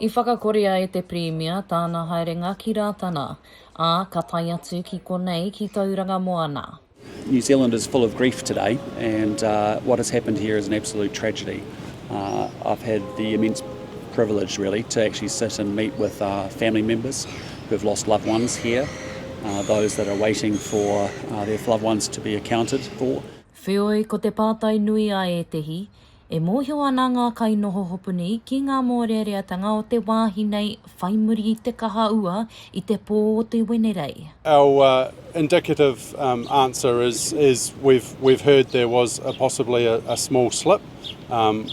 I whakakorea e te Pirimia tāna haerenga ki Rātana, ā, ka tae atu ki konei ki Tauranga Moana. New Zealand is full of grief today and what has happened here is an absolute tragedy. I've had the immense privilege really to actually sit and meet with family members who have lost loved ones here, those that are waiting for their loved ones to be accounted for. Wheoi, ko te pātai nui a ētehi, E mōhio ana ngā kainoho hopuni ki ngā mōreareatanga o te wāhi nei whai muri i te kaha ua i te pō o te Wenerei. Our indicative answer is is we've we've heard there was a possibly a small slip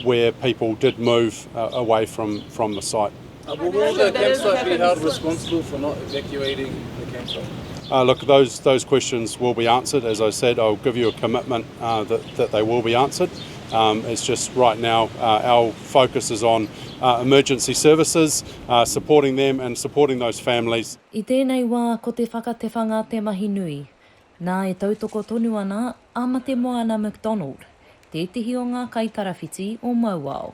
where people did move away from from the site. Uh, well, will the campsite be held responsible for not evacuating the campsite? Uh, look, those those questions will be answered. As I said, I'll give you a commitment uh, that that they will be answered. Um, it's just right now uh, our focus is on uh, emergency services, uh, supporting them and supporting those families. I tēnei wā ko te whakatewhanga te mahi nui. Nā e tautoko tonu ana a Matemoana McDonald, tētehi o ngā kaitarawhiti o Mauao.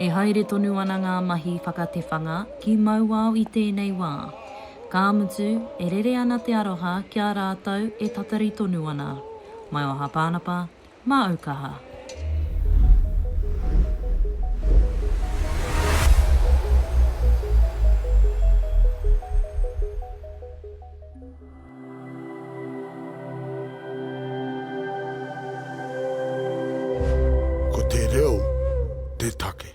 E haere tonu ana ngā mahi whakatewhanga ki Mauao i tēnei wā. Ka mutu, e rere ana te aroha ki a rātou e tatari tonu ana. Maio Hapānapa, māu kaha. Ko te reo te take.